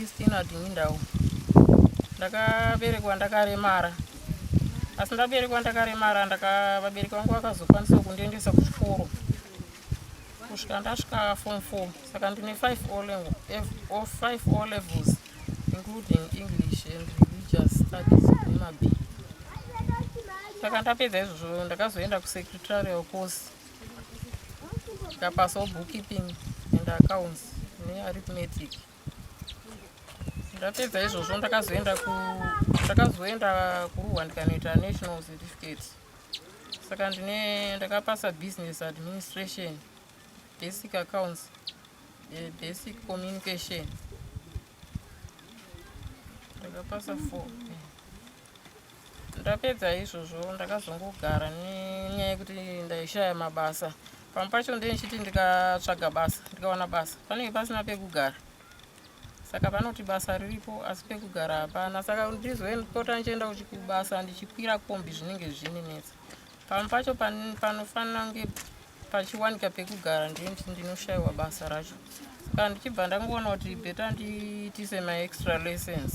Christina Dingindau ndakaberekwa ndakaremara asi ndaberekwa ndakaremara ndakavabereki vangu vakazokwanisawo kundiendesa kuchikoro kusvika ndasvika form four saka ndine five o level or five o levels including english and religious studies nemab saka ndapedza izvozvo ndakazoenda kusecretarial course ndikapasawo bookkeeping and accounts nearithmetic ne ndapedza izvozvo ndakazoenda ku ndakazoenda kuruwa ndikanoita national certificate saka ndine ndakapasa business administration basic accounts eh, basic communication ndakapasa four ndapedza izvozvo ndakazongogara nenyaya yekuti ndaishaya mabasa pamwe pacho ndenichiti ndikatsvaga basa ndikawana basa panenge pasina pekugara saka vanoti basa riripo asi pekugara hapana saka ndizoenpota ndichienda kubasa ndichikwira kombi zvinenge zvininetsa pamwe pacho panofanira kunge pachiwanika pekugara ndinoti ndinoshayiwa basa racho saka ndichibva ndangoona kuti beta ndiitise maextra lessons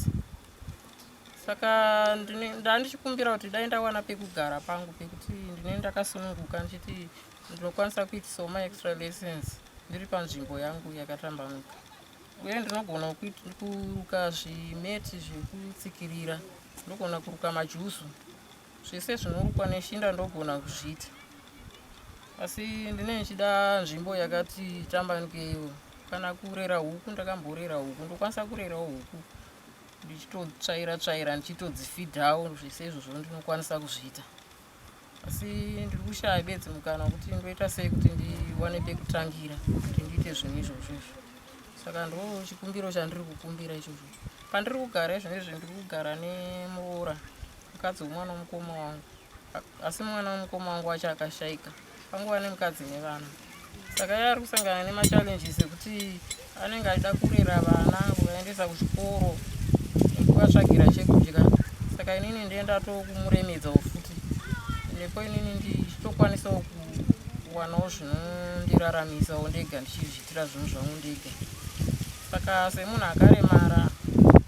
saka ndandichikumbira kuti dai ndawana pekugara pangu pekuti ndine ndakasununguka ndichiti ndinokwanisa kuitisa ma extra lessons ndiri panzvimbo yangu yakatambanuka uye ndinogona kuruka zvimeti zvekutsikirira ndogona kuruka majusu zvese zvinorukwa neshinda ndogona kuzviita asi ndine ndichida nzvimbo yakati tambanukeiwo kana kurera huku ndakamborera huku ndokwanisa kurerawo huku ndichitotsvaira tsvaira ndichitodzifidhawo zvese izvozvo ndinokwanisa kuzviita asi ndiri kushaya bedzi mukana wekuti ndoita sei kuti ndiwane pekutangira kuti ndiite zvinhu izvozvo izvo saka ndo chikumbiro chandiri kukumbira ichozvo pandiri kugara izvo izvi ndiri kugara nemuroora mukadzi wemwana womukoma wangu asi mwana wemukoma wangu wacho akashaika panguva nemukadzi nevana saka iye ari kusangana nemachallenges ekuti anenge achida kurera vana kuvaendesa kuchikoro nekuvatsvagira chekudya saka inini ndiye ndatokumuremedzawo futi nepo inini ndichitokwanisawo kuwanawo zvinondiraramisawo ndega ndichizviitira zvinhu zvangu ndega saka semunhu akaremara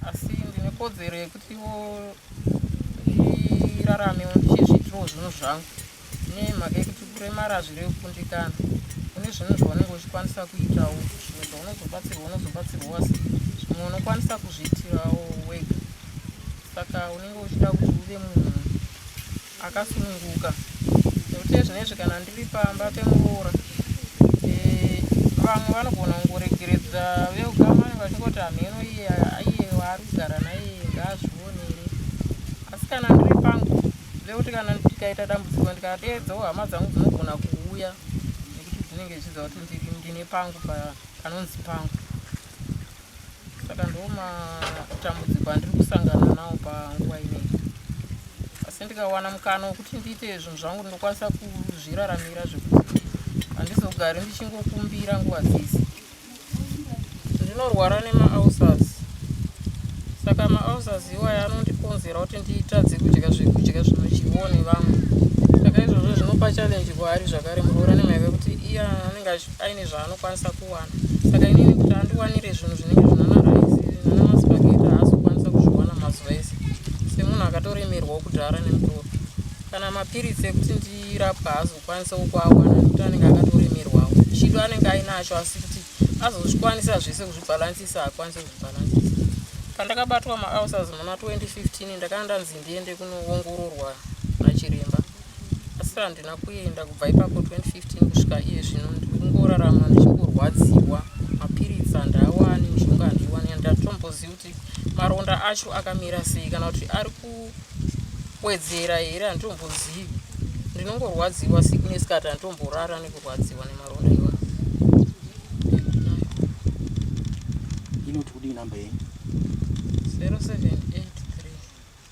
asi ndine kodzero yekutiwo ndirarame ndichizviitirawo zvinhu zvangu nemhaka yekuti kuremara hazvirevi kukundikana kune zvinhu zvaunenge uchikwanisa kuitawo zvimwe zvaunozobatsirwa unozobatsirwa wasi zvimwe unokwanisa kuzviitirawo wega saka unenge uchida kuti uve munhu akasununguka nekuti ezvinezvi kana ndiri pamba pemuroora eh, vamwe vanogona kungoregeredza veukama vanenge vachingoti hamheno iye aiye waari kugara naiye ngaazvionere asi kana ndiri pangu vekuti kana ndikaita dambudziko ndikadeedzawo hama dzangu dzinogona kuuya nekuti dzinenge zvichiziva kuti ndine pangu panonzi pangu saka ndoo matambudziko andiri kusangana nawo panguva inei asi ndikawana mukana wekuti ndiite zvinhu zvangu ndinokwanisa kuzviraramira zvekuti handizogari ndichingokumbira nguva dzese ndinorwara nemaausas saka maausas iwaya anondikonzera kuti ndiitadze kudya zvekudya zvinodyiwo nevamwe saka izvozvo zvinopa challenge kwaari zvakare muroora nemaive kuti iya anenge aine zvaanokwanisa kuwana saka inini kuti andiwanire zvinhu zvinenge zvinanaraisi nanamaspageti haazokwanisa kuzviwana mazuva ese semunhu akatoremerwawo kudhara nemutoro kana mapiritsi ekuti ndirapwa haazokwanisa ukuawana nekuti anenge akatoremerwawo chido anenge ainacho asi kuti azozvikwanisa zvese kuzvibhalansisa haakwanise kuzvibhalansisa pandakabatwa maaucers muna 2015 ndakanda nzindiende kunoongororwa nachiremba asi handina kuenda kubva ipapo 2015 kusvika iye zvino ndikungorarama ndichinkurwadziwa mapiritsi handaawane mishonga handiiwane andatombozivi kuti maronda acho akamira sei kana kuti ari kuwedzera here handitombozivi ndinongorwadziwa siku nesikati handitomborara nekurwadziwa nemaronda iwa inoti kudii number yenyu 078